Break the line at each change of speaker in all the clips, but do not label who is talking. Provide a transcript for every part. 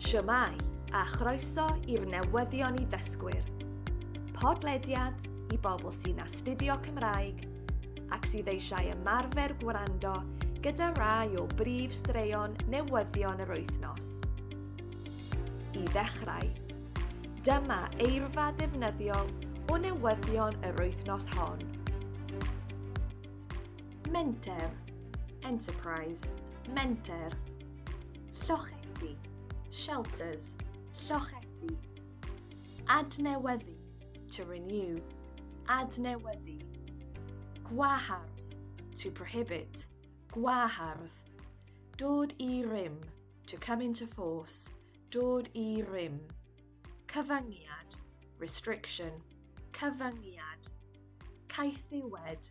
Shwmae, a chroeso i'r newyddion i ddysgwyr. Podlediad i bobl sy'n astudio Cymraeg ac sydd eisiau ymarfer gwrando gyda rai o brif straeon newyddion yr wythnos. I ddechrau, dyma eirfa ddefnyddiol o newyddion yr wythnos hon. Menter, enterprise, menter. Llochesi, shelters, llochesi. Adnewyddu, to renew, adnewyddu. Gwahardd, to prohibit, gwahardd. Dod i rym, to come into force, dod i rym. Cyfyngiad, restriction, cyfyngiad. Caethiwed,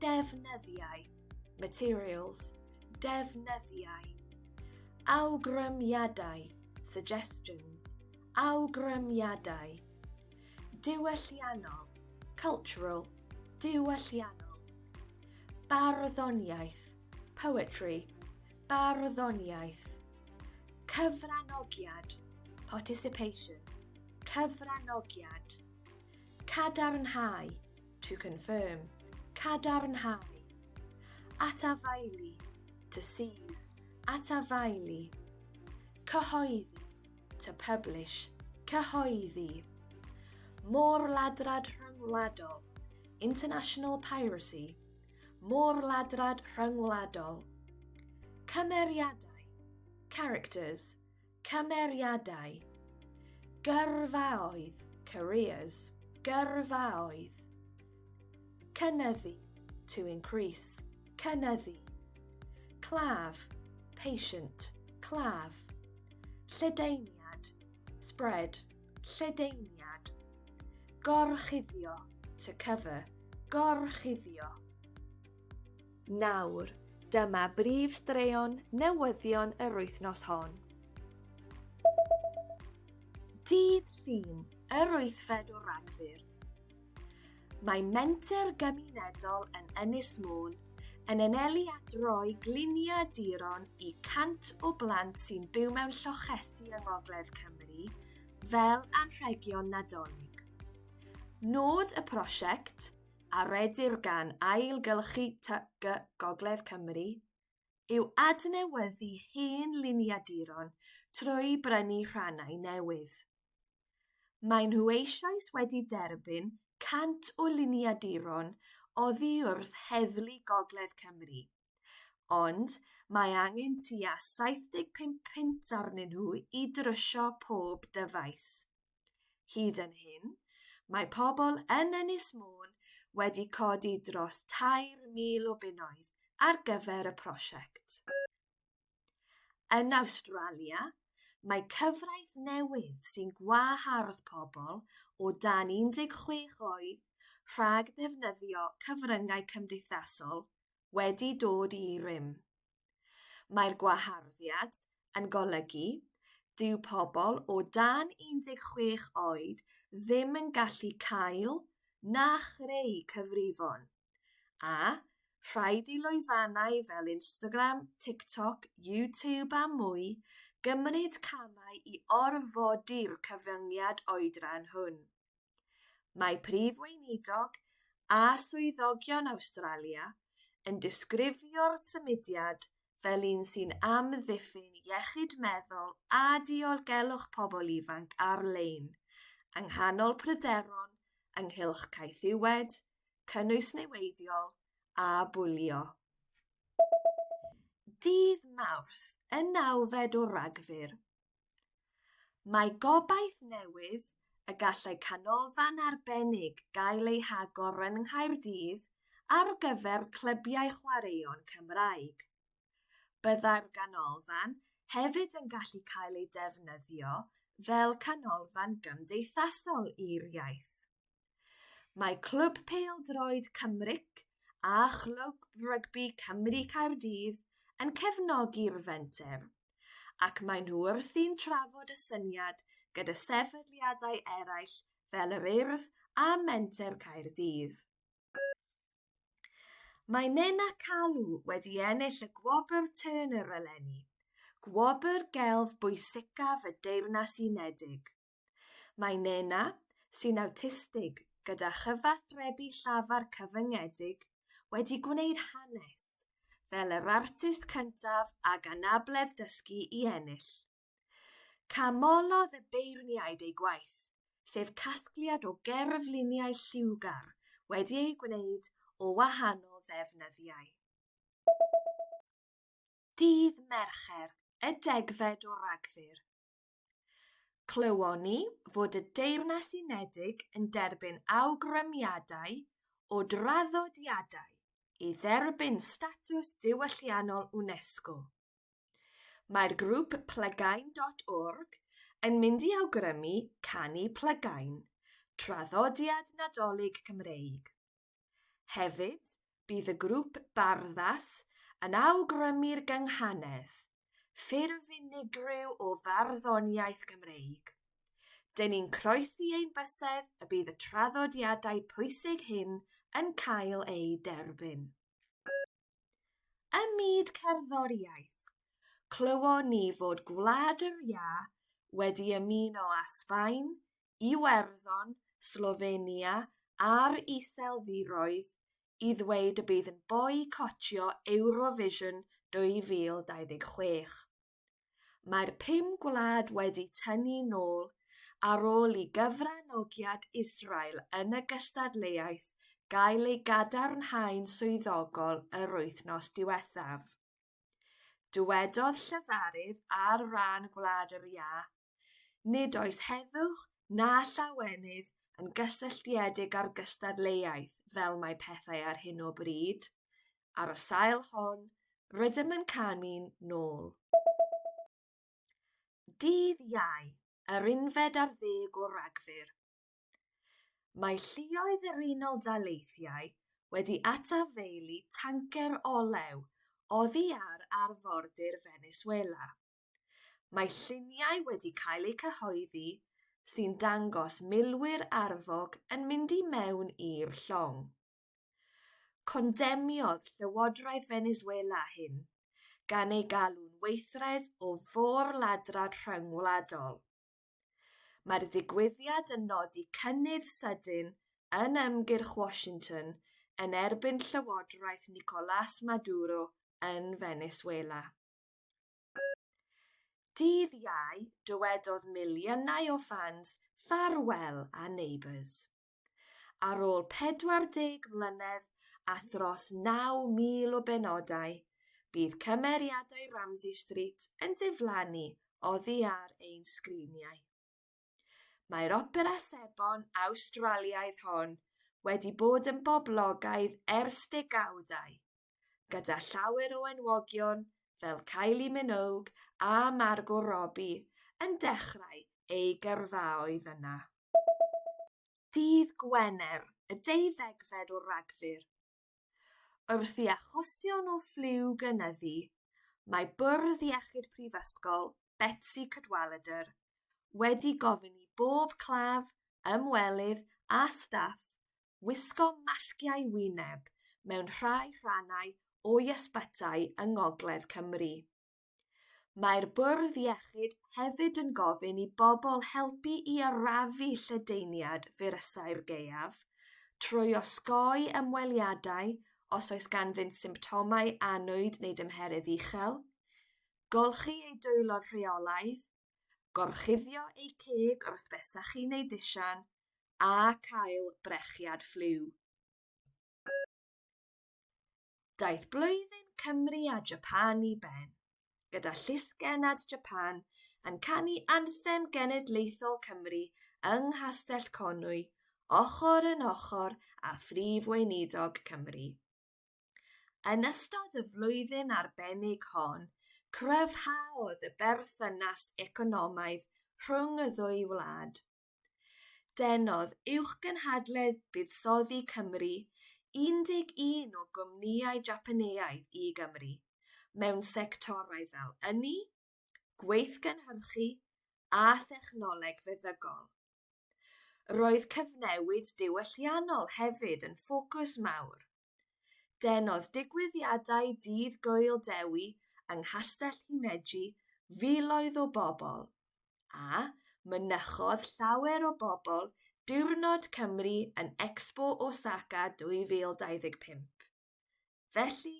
Defnyddiau, materials, defnyddiau. Awgrymiadau, suggestions, awgrymiadau. Diwylliannol, cultural, diwylliannol. Barddoniaeth, poetry, barddoniaeth. Cyfranogiad, participation, cyfranogiad. Cadarnhau, to confirm, cadarnhau, atafaelu, to seize, atafaelu, cyhoeddi, to publish, cyhoeddi, môr ladrad rhyngwladol, international piracy, môr ladrad rhyngwladol, cymeriadau, characters, Cymeriadau. Gyrfaoedd, careers, gyrfaoedd. Cynyddu, to increase, cynyddu. Claf, patient, claf. Lledaeniad, spread, lledaeniad. Gorchuddio, to cover, gorchuddio. Nawr, dyma brif straeon newyddion yr wythnos hon. Dydd Llun, yr wythfed o Ragfyr. Mae menter gymunedol yn Ynys Môn yn anelu at roi gliniau diron i 100 o blant sy'n byw mewn llochesi yng Ngogledd Cymru fel anrhegion Nadolig. Nod y prosiect, a redir gan Ailgylchu TGCU Gogledd Cymru, yw adnewyddu hen liniaduron trwy brynu rhannau newydd. Maen nhw eisoes wedi derbyn 100 o liniaduron oddiwrth Heddlu Gogledd Cymru, Ond mae angen tua 75 punt arnyn nhw i drwsio pob dyfais. Hyd yn hyn, mae pobl yn Ynys Môn wedi codi dros 3,000 o bunnoedd ar gyfer y prosiect. Yn Awstralia, Mae cyfraith newydd sy'n gwahardd pobl o dan 16 oed rhag defnyddio cyfryngau cymdeithasol wedi dod i rym. Mae'r gwaharddiad yn golygu dyw pobl o dan 16 oed ddim yn gallu cael na chreu cyfrifon, a rhaid i lwyfannau fel Instagram, TikTok, YouTube a mwy gymryd camau i orfodi'r cyfyngiad oedran hwn. Mae Prif Weinidog a swyddogion Awstralia yn disgrifio'r symudiad fel un sy'n amddiffyn iechyd meddwl a diogelwch pobl ifanc ar-lein, yng nghanol pryderon ynghylch caethiwed, cynnwys niweidiol a bwlio. Dydd Mawrth, y nawfed o Ragfyr, Mae gobaith newydd y gallai canolfan arbennig gael ei hagor yng Nghaerdydd ar gyfer clybiau chwaraeon Cymraeg. Byddai'r ganolfan hefyd yn gallu cael ei defnyddio fel canolfan gymdeithasol i'r iaith. Mae Clwb Pêl-droed Cymric a Chlwb Rygbi Cymru Caerdydd yn cefnogi'r fenter, ac maen nhw wrthi'n trafod y syniad gyda sefydliadau eraill fel yr Urdd a Menter Caerdydd. Mae Nena Calw wedi ennill y Gwobr Turner eleni, gwobr gelf bwysicaf y Deyrnas Unedig. Mae Nena, sy'n awtistig gyda chyfathrebu llafar cyfyngedig, wedi gwneud hanes fel yr artist cyntaf ag anabledd dysgu i ennill. Canmolodd y beirniaid ei gwaith, sef casgliad o gerfluniau lliwgar wedi eu gwneud o wahanol ddefnyddiau. Dydd Mercher, y degfed o Ragfyr, Clywon ni fod y Deyrnas Unedig yn derbyn awgrymiadau o draddodiadau i dderbyn statws diwylliannol UNESCO. Mae'r grŵp Plygain.org yn mynd i awgrymu Canu Plygain, traddodiad Nadolig Cymreig. Hefyd, bydd y grŵp barddas yn awgrymu'r gynghanedd, ffurf unigryw o farddoniaeth Gymreig. Dyn ni'n croesi ein bysedd y bydd y traddodiadau pwysig hyn yn cael eu derbyn. Ym myd cerddoriaeth, clywon ni fod Gwlad yr Iâ wedi ymuno â Sbaen Iwerddon, Slofenia a'r Iseldiroedd i ddweud y bydd yn boicotio Eurovision 2026. Mae'r pum gwlad wedi tynnu nôl ar ôl i gyfranogiad Israel yn y gystadleuaeth gael ei gadarnhau'n swyddogol yr wythnos diwethaf. Dywedodd llefarydd ar ran Gwlad yr Iâ, Nid oes heddwch na llawenydd yn gysylltiedig â'r gystadleuaeth fel mae pethau ar hyn o bryd. Ar y sail hon, rydym yn canu'n nôl. Dydd Iau, yr unfed ar ddeg o Ragfyr. Mae lluoedd yr Unol Daleithiau wedi atafaelu tancer olew oddi ar arfordir Venezuela. Mae lluniau wedi cael eu cyhoeddi sy'n dangos milwyr arfog yn mynd i mewn i'r llong. Condemniodd Llywodraeth Venezuela hyn, gan ei galw'n weithred o fôr-ladrad rhyngwladol. Mae'r digwyddiad yn nodi cynnydd sydyn yn ymgyrch Washington yn erbyn Llywodraeth Nicolás Maduro yn Venezuela. Dydd Iau, dywedodd miliynau o ffans ffarwel â Neighbours. Ar ôl 40 mlynedd a thros 9,000 o benodau, bydd cymeriadau Ramsay Street yn diflannu oddi ar ein sgriniau. Mae'r opera sebon Awstraliaidd hon wedi bod yn boblogaidd ers degawdau, gyda llawer o enwogion fel Kylie Minogue a Margot Robbie yn dechrau ei gyrfaoedd yna. Dydd Gwener, y deuddegfed o Ragfyr, Wrth i achosion o ffliw gynyddu, mae Bwrdd Iechyd Prifysgol Betsi Cadwaladr wedi gofyn i bob claf, ymwelydd a staff wisgo masgiau wyneb mewn rhai rhannau o'i ysbytai yng Ngogledd Cymru. Mae'r Bwrdd Iechyd hefyd yn gofyn i bobl helpu i arafu lledaeniad firysau'r gaeaf trwy osgoi ymweliadau os oes ganddynt symptomau annwyd neu dymheredd uchel, golchi eu dwylo rheolaidd, gorchuddio eu ceg wrth besachu neu ddisian, a cael brechiad ffliw. Daeth blwyddyn Cymru a Japan i ben, gyda Llysgennad Japan yn canu anthem genedlaethol Cymru yng Nghastell Conwy, ochr yn ochr â Phrif Weinidog Cymru. Yn ystod y flwyddyn arbennig hon, cryfhaodd y berthynas economaidd rhwng y ddwy wlad. Denodd Uwchgynhadledd Buddsoddi Cymru 11 o gwmnïau Japaneaidd i Gymru mewn sectorau fel ynni, gweithgynhyrchu a thechnoleg feddygol. Roedd cyfnewid diwylliannol hefyd yn ffocws mawr Denodd digwyddiadau Dydd Gŵyl Dewi yng Nghastell Himeji filoedd o bobl, a mynychodd llawer o bobl Diwrnod Cymru yn Expo Osaka 2025. Felly,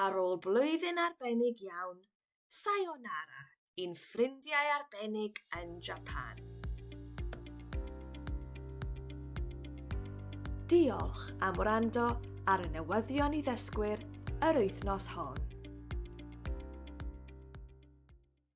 ar ôl blwyddyn arbennig iawn, Sayonara i'n ffrindiau arbennig yn Japan. Diolch am wrando ar y newyddion i ddysgwyr yr wythnos hon.